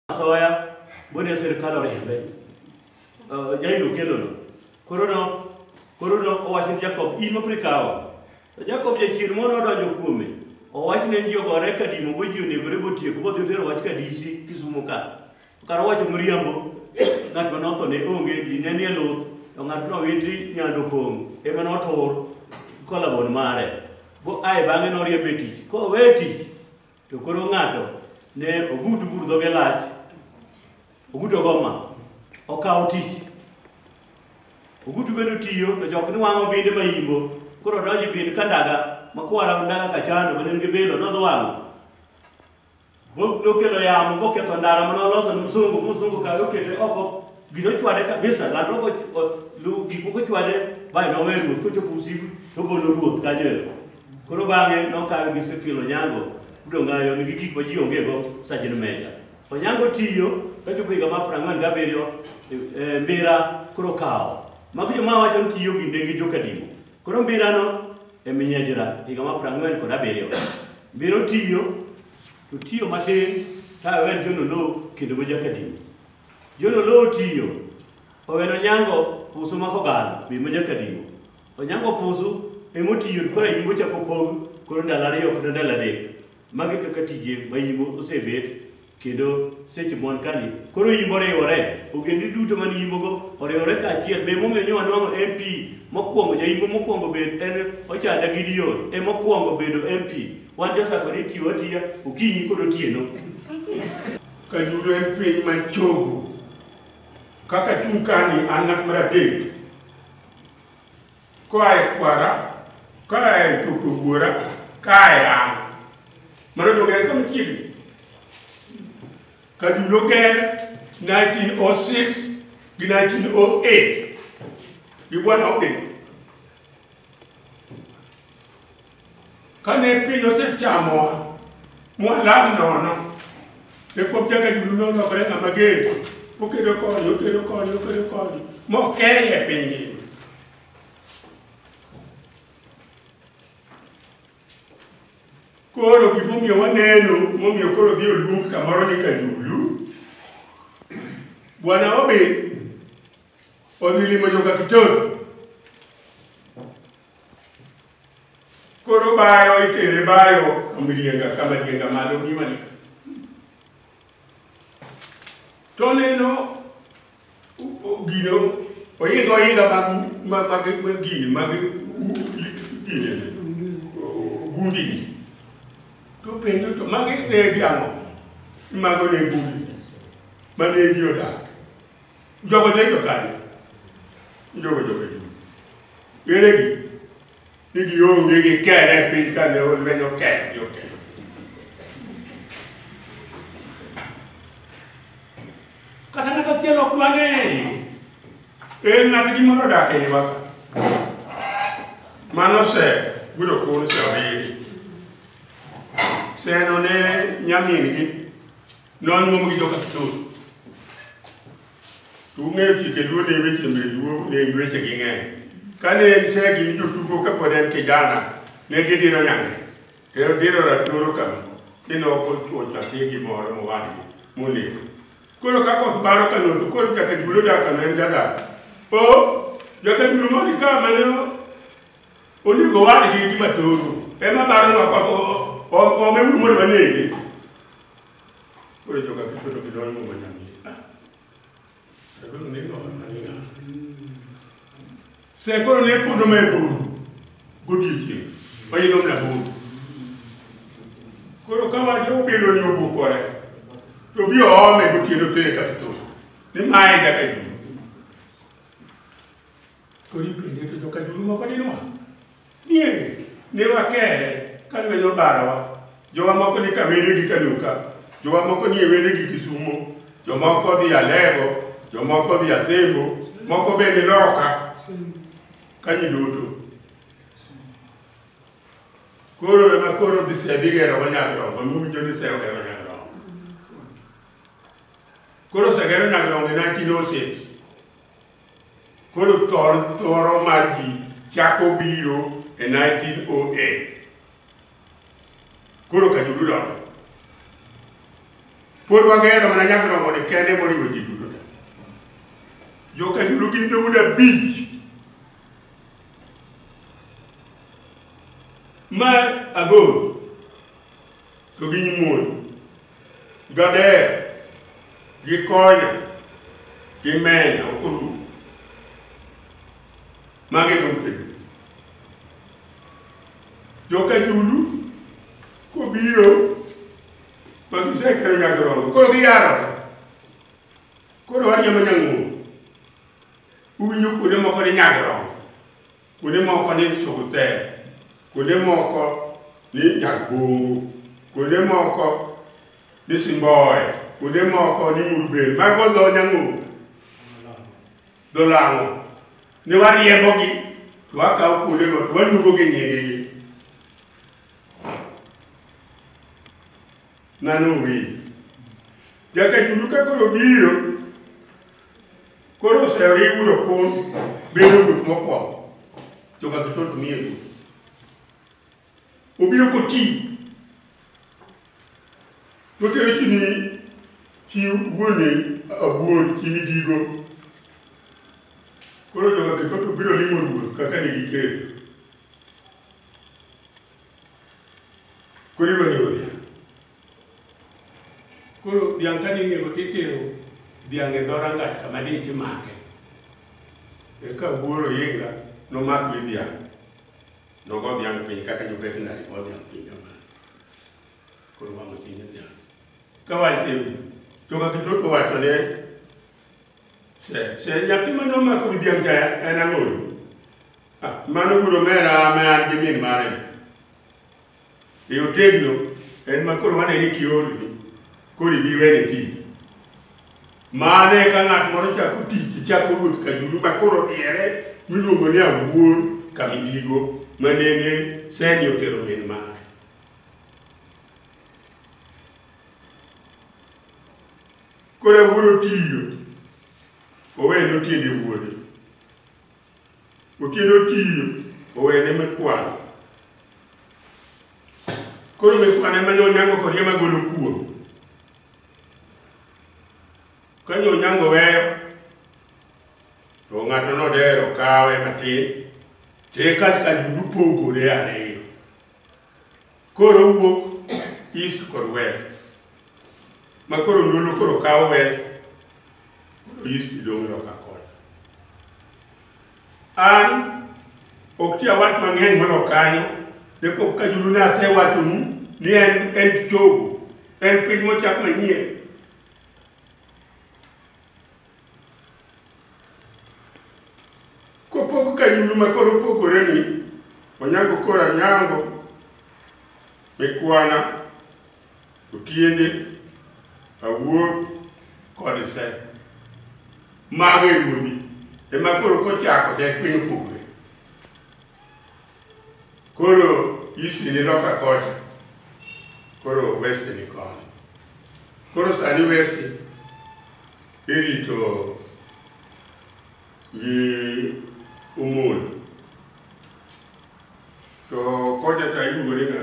asoya bune sirikal oriembe Eh, jairo kelono koro no koro no owacho ni jakob in mokri kawo to jakob jachir mono odonjo kuome owach ne ni jogore kadimo go ji onegore botieko bodhi otero wach kadisi kisumo ka To kar wacho miriambo, ng'at ma notho ne onge, ji ne nie luth, to ng'at nowiti nyando pong' ema notur kolabon mare. Bo ae bang'e noriembe e tich. Kowe tich, to koro ng'ato ne ogut bur dhoge lach, ogut ogoma, okawo tich. Ogutu bedo tiyo, to jok ni wang'o binde ma imbo. Koro odonjo e bind ka ndaga, makwara ndaga kachano, ma ne nigi bilo, nodhi wang'o. Bo- nokelo yamo moketho ndara mane oloso ni msungu msungu kae okete oko gino ochwade kabisa landruok och- o- lu- gik moko ochwade bae nowe ruoth kochopo usiku togolo ruoth kanyo ero koro bang'e nokawe gi sekilo nyango udongayo nigi gik ma ji ongego sajin meja onyango tiyo kachopo higa mar prang'wen gabiriyo e- e, mbira koro kawo magi joma wacho ni tiyo ginde gi jokadimo Koro mbirano e minyejra higa ma prang'wen kod abiriyo mbiro tiyo to tiyo matin ta owen jono lo kendo go jakadini jono lo tiyo oweno nyango pusu mako galo bi mo jakadini onyango pusu emotiyo kora yingo chako pog koro ndalo ariyo kata ndalo adek magi kaka tije ma yingo osebet kendo seche mwan kani koro yimbo riwore ogendni duto man yimbogo oriwore kaachiel be momiyo nyowa nwang'o mp mokwongo jayimbo mokwongo bed en ochanda gideon e mokwongo bedo mp wan josako ni tiyo atiya okinyi kod otieno kajudo en piny man chogo kaka chung kani an ng'at mar adek koa e kwara koa e chopo buora kae an mano dogere sama chiegni kadu noger 1906 gi 1908 gi bwana Ogden Kane piny osechamowa mwalal nono, Jakob jaga julu nolokore ng'ama ger, okedo koni, okedo koni, okedo koni, mokeye e piny ngima. Koro gimomiyo waneno, momiyo koro dhi olum kamoro ni kajulu, Bwana Obi odhi limo joka Kitoro. Koro bayo itere bayo kamrienga kamarienga malo ngiwani. To neno gino oinga oinga mag mag mag gini mag gini gundi ni. To penjo to magi ne gi ang'o? Mago ne gundi. Mane ji odak. Jogo ne to kanye? Jogo jogo ji. Ere gi? Ni gionge gi kere e piny kane olwenyo kere gi okelo. Kata ng'at achiel ok dwa ne en ng'at gi moro dak e iwa. Mano se gudo kun se oridi. Se no ne nyamin gi Ne wanyuom gi joka Kitoro. To ung'eyo chike luo ne weche mbe luo ne weche gi ng'eny. Kane en segi ni jotugo ka pod en kijana ne gidiro nyame. To en diro ratoro kama ni ne ok ochuo nyathi gimoro mowadgi monego. Koro ka koth baro ka notu koro jaka julo daka ne en jadak. O jaka julo mani ka mane onego wadgi gi matoro ema baro nwa kwa ome wumondo wanege. Koro joka kichoto kidol mo manyami. Kagolo ni no mani na. Se koro ne pondo me bondo. Godiechieng. Mayilo mna bondo. Koro kama jo bilo ni obukore. To bi oome gotieno tere ka kito. Ni mae nyaka juma. To ipenje to joka julu moko dinwa. Nie, ne wakere ka lweny obarawa. Jowa moko ni Kawere gi Kanuka, jowa moko ni Ewere gi Kisumo, jomoko dhi Alego, jomoko dhi Asembo, moko bende loka kanyi duto. Koro ema koro dhi sebi gero wa Nyagrongo, miwinjo ni sewo gero Nyagrongo. Koro osegero Nyagrongo e 1906. Koro thor thoro mar ji chako biro e 1908. Koro ka dudu dongo. Pod wagero mana nyagrongo ni kende moriwo ji duto te. Jo ka dudu gin dhoudi abich. Ma agoro to gi nyimon Gadeyo, gikonyo, gimenya ok orum. Magi lumbe. Joka Judu kobiro ma gisekelo nyagorogo koro giyarore. Koro wan joma nyang'uo. Uwinjo kuonde moko ni nyagorogo. kuonde moko ni Chuguthe, kuonde moko ni Nyagbungu, kuonde moko ni Simboe, kuonde moko ni Murubel, mago dho Nyang'ogo, dho Lang'o. Ne wariembogi to wakawo kuondego to waluongogi nyingegi. Ng'ano owinjo? Jakachulu ka koro biro, koro oseriw udo kun bedo ruoth mokwongo, joka Kitol to miye ruoth. Obiro koti, totero chi ni chi wuone abuon chi midigo. Koro joka Kitol to biro limo ruoth kaka ne giketo. Koro idwa nego dhiang'. Koro dhiang' ka dhi nego titero dhiang' e dho rangach kama ni timake. Eka wuoro yinga nomak wi dhiang'. Nogo dhiang' piny kaka jo veterinary go dhiang' piny kamano. Koro wang'o chuny dhiang'. Ka wach ewi, to kaka Kitoto wacho ne Se, se nyathi ma nomako gi dhiang' cha en ang'o? Ah, Mano gudo mera ma an gi min mare. E otegno en ma koro wane ni kiolni koro ibi wene tich. Mane ka ng'at moro chako tich chako ruoth kajulu ma koro diere miluongo ni awuor kamidigo ma nene seni otero min mare. Koro awuoro tiyo. Owene otiende wuode. Otiende otiyo. Owene mekwano. Koro mekwano ema jo onyango kod ema golo kuom. Ka jo onyango weyo, to ng'ato nodero kawe matin, to eka ka gipogore ariyo. Koro wuok east kod west. Ma koro ndulu koro kawo west, koro east dong' loka kocha. An ok ti awach mang'eny mondo kanyo, ne pok ka julu ne asewachonu ni en en chogo, en piny mochak manyien. Kopog kanyulu ma koro opogore ni Onyango koro Anyango, Mikwana, Otiende, Awuor kod Se. Mago e ruodhi ema koro kochako to en piny opogore. Koro isi ni loka kocha, koro west ni koni. Koro sani west irito gi umul. To kocha cha iluore na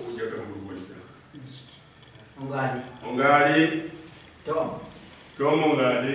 ujaka murumoni cha. Ongadi. Ongadi, Tom. tomo ngadi,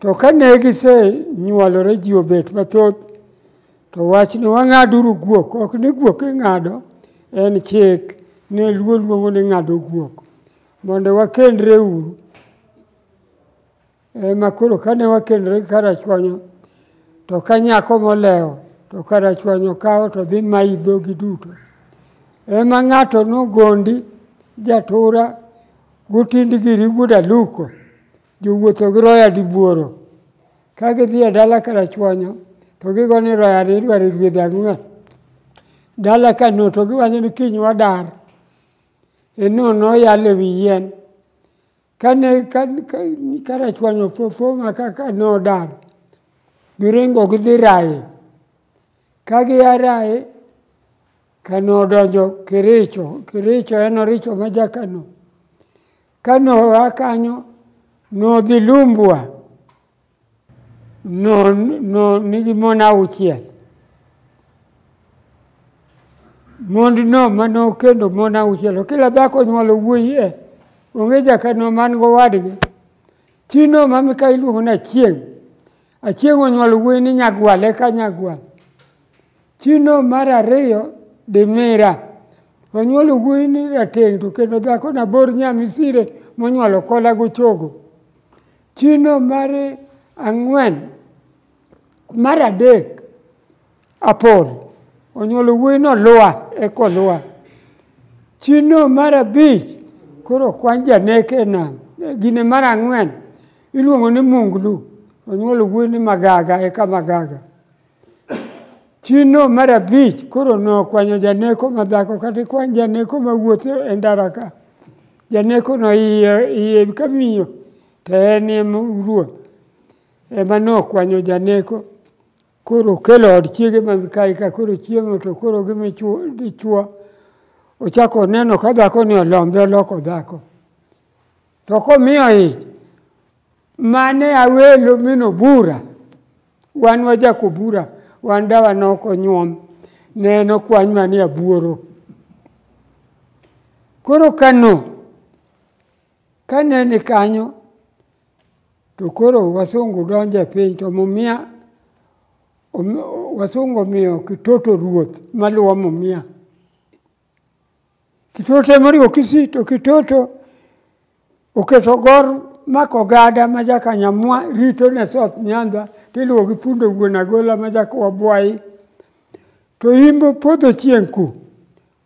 To kane gisenyuolore ji obet mathoth, to wach ni wang'aduru guok, ok ni guok ing'ado, en chik ne luo luongo ni ng'ado guok, mondo wakendre uru. Ema koro kane wakendre gi Karachuonyo, to ka nyako molewo, to Karachuonyo kawo to dhi mayi dhogi duto. Ema ng'ato nogondi jatura gotind giri guda luko, Jowuotho gi roya dibuoro ka gidhi e dala karachuonyo to gigo ni roya ni idwaro rwedhi ang'wen dala ka no to giwacho ni kiny wadar enono oyal e wi yien kane karachuonyo fofoma kaka nodar giringo gidhi raye ka gia raye kano odonjo kericho kericho en oricho ma jakano Ka noa kanyo nodhi Lumbwa, no, no nigi mon auchiel. Mond no ma nokendo mon auchiel, kila dhako nyuolo wuoyi e, onge jakano man gowadgi. Chi no ma mika iluongo na chieng', Achieng' onyuol wuoyi ni Nyagwal eka Nyagwal. Chino mar ariyo Dimira. Onyuol wuoyi ni Rateng' to kendo dhako nabor Nyamisire monyuolo kola gochogo. Chino mar ang'wen mar adek Apol onyuolo wuoyi no Lua eko Lua. Chino mar abich koro kwan janek e nam. Gine mar ang'wen iluongo ni Munglu onyuolo wuoyi ni Magaga eka Magaga. Chino mar abich koro nokwanyo janeko ma dhako kata ikwan janeko ma wuotho e ndara ka. Janeko no iye iye ka miyo to en em ruoth ema nokwanyo janeko. Koro kelo od chiege ma mikayi ka koro chiemo to koro gi michuo ochako oneno ka dhako ni olombe oloko dhako to komiyo ich mane awelo mino bura wan wajako bura wan dawa noko nyuom ne en okwany manie abuoro koro kano Kane ni kanyo, to koro wasungu donjo e piny, to Mumia, wasungu omiyo Kitoto ruoth maluwo Mumia. Kitoto ema oriwo Kisii, to Kitoto oketo gor mako gada ma jakanyamwa rito ne South Nyanza tiluwo gi fundo wuon agola ma jakowa bwayi to imbo podho chieng' ku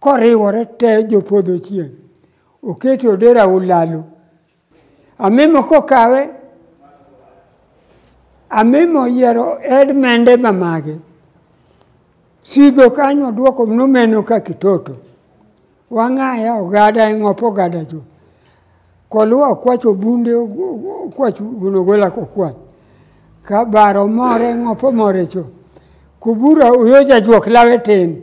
koriwore te jopodho chieng' oketo odera ulalo amimo kokawe amimo yiero ed mende mamage sidho kanyo dwoko nomeno ka kitoto wang'aya ogada e ng'op ogada cho koluwa okwacho bunde okwach gunogola kokwach ka baro more ng'op omore cho kubura uyoja juok lawe tin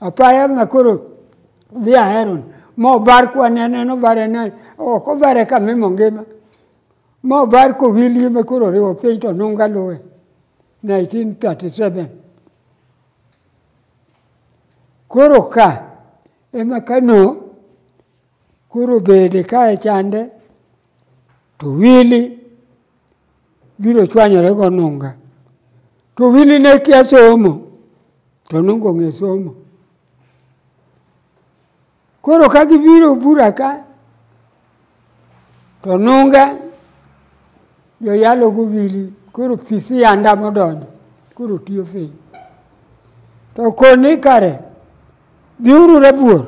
Apaya ma koro dhi aheron mobar kwanene nobare ne ok obare ka mimo ngima mobar kowilie ma koro riwo piny to nunga luwe 1937 koro ka ema kano koro bede kae chande to wili biro chwanyore go nunga to wili ne kia somo to nunga ong'e somo koro ka gibiro bura ka to nunga joyalo go wili koro fisi yanda modonjo koro tiyo piny to koni kare dhiuru rabuor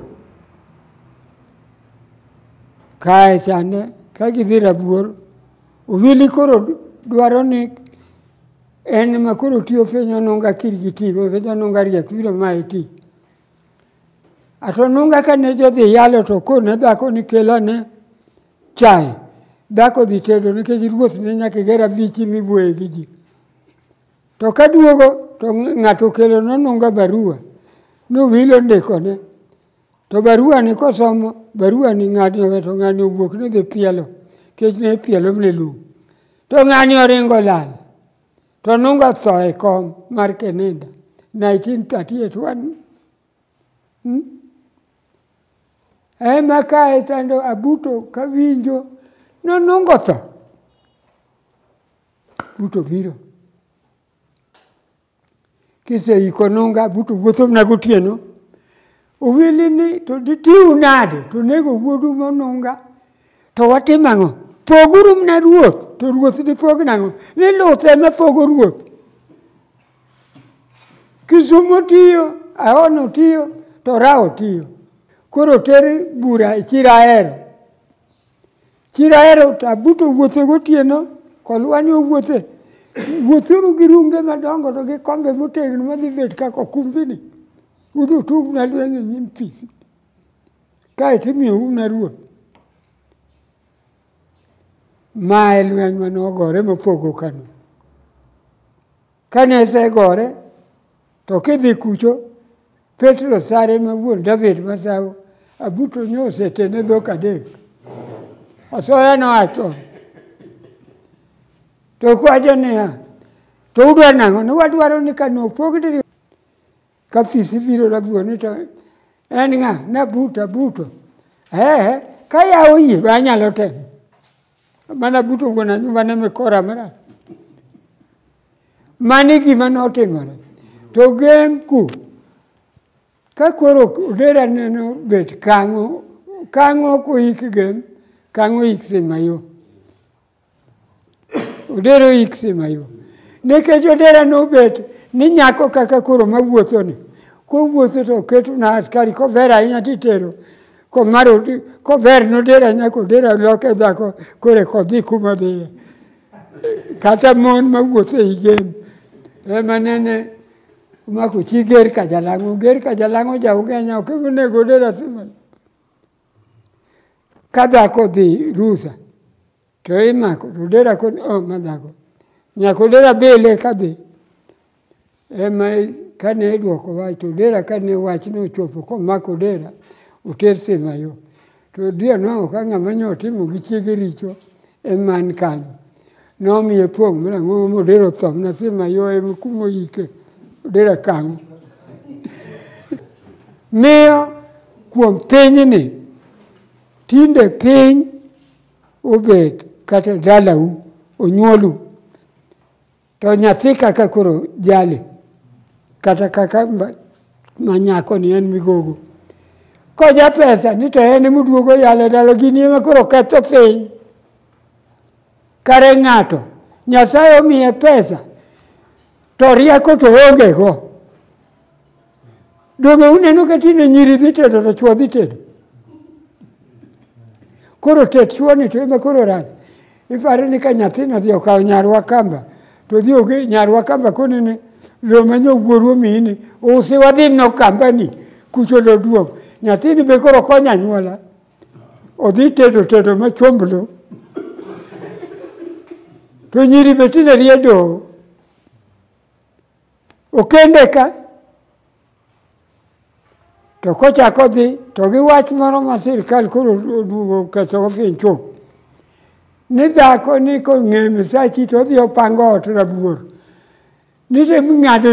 kae chande ka gidhi rabuor Ogili koro dwaro ni en ma koro tiyo fenyo nonga kirgi tigo kendo nonga riek biro ma iti. Ato nonga ka ne jodhi yalo to ko ne dhako ni kela ne chai. Dhako dhi tedo nikech ruoth ne nyaka gera bichi mibuoye gi ji. To ka duogo to ng'ato kelo nononga barua. Nowilo ndiko ne. To barua ni kosom barua ni ng'ani owe to ng'ani owuok ni dhi pielo kech ne pielo ne lum. To ng'ani oringo lal. To nunga tho e kom mar Keninda 1938 wan. Hmm? Ema kae tando abuto kawinjo nonungo tho. Buto biro. Kiseiko nunga buto wuothona gotieno, owili ni to ditiu nade to nego wuodu monunga to watim ang'o? Poguru mna ruoth to ruoth dipog nang'o? Ni luth ema pogo ruoth. Kisumo tiyo, Ahono tiyo, to Rawo tiyo. Koro ter bura e chiro ahero. Chiro ahero to abuto wuothe gotieno, kolwani owuothe. Wuothuru gi runge madongo to gi kombe motegno madhi bet kaka okumbini. Udhi utug na lweny e nyim fisi. Kaeto imiyo un na ruoth. Ma e lweny mane ogore mopogo Kano. Kane osegore to kidhi kucho Petro sare ma wuon David masawo abuto nyo osetene dhok adek. Asoya nowacho to kwajo niya to udwa nang'o ni wadwaro ni ka nopog diri ka fisi biro rabuoni to en ng'a nabuto abuto ee ka ya oyie be anyalo temo mana buto wuon anyumbane mikora marach Mani gima notimore. To gemku, ka koro odera neno bet kang'o, kang'o koik gem, kang'o ik simayo. Odero ik simayo. Nikech odera nobet ni nyako kaka koro mawuotho ni, kowuotho to keto na askari kover ahinya titero komaro kover nodera nyako odera loke dhako kore kodhi kuma dhiye. kata mon mawuotho ei game ema nene omako chi ger ka jalang'o ger ka jalang'o ja ugenya ok onego de lazima ka dhako dhi rusa to imako to dera kod o oh, ma dhako nyako dera bele ka dhi Ema kane idwoko wach to Odera kane wach ne ochopo komako Odera oter Simayo. To Odera nwango ka ng'ama nyo otimo gi chiege richo eman kanyo. Nomiye pong' mana ng'o modero thom na Simayo ema kumo yike Odera kango. Miyo kuom pinyni tinde piny obet kata dalau onyuolu To nyathi kaka koro jali, kata kaka manyako ni en migogo. Koja pesa ni to en muduogo yale dalo gini ema koro ketho piny. Kare ng'ato, Nyasaye omiye pesa, to rieko to onge go. Donge uneno ka tinde nyiri dhi tedo to chwo dhi tedo? Koro tet chwoni to ema koro rach. Ipare ni ka nyathina dhi okawo nyarwa kamba to dhi oge nyarwa kamba koni ni lo manyo wuoru omiyi ni usi wadhi no kamba ni kucho lo duong'. Nyathini be koro konyo anyuola. Odhi tedo tedo ma chomb lo. To nyiri be tinde riedo. Okende ka to kochako dhi to gi wach moro ma sirkal koro oduogo kethogo piny chuth ni dhako ni kong'e misachi to odhi opango ot rabuor ni to ming'ado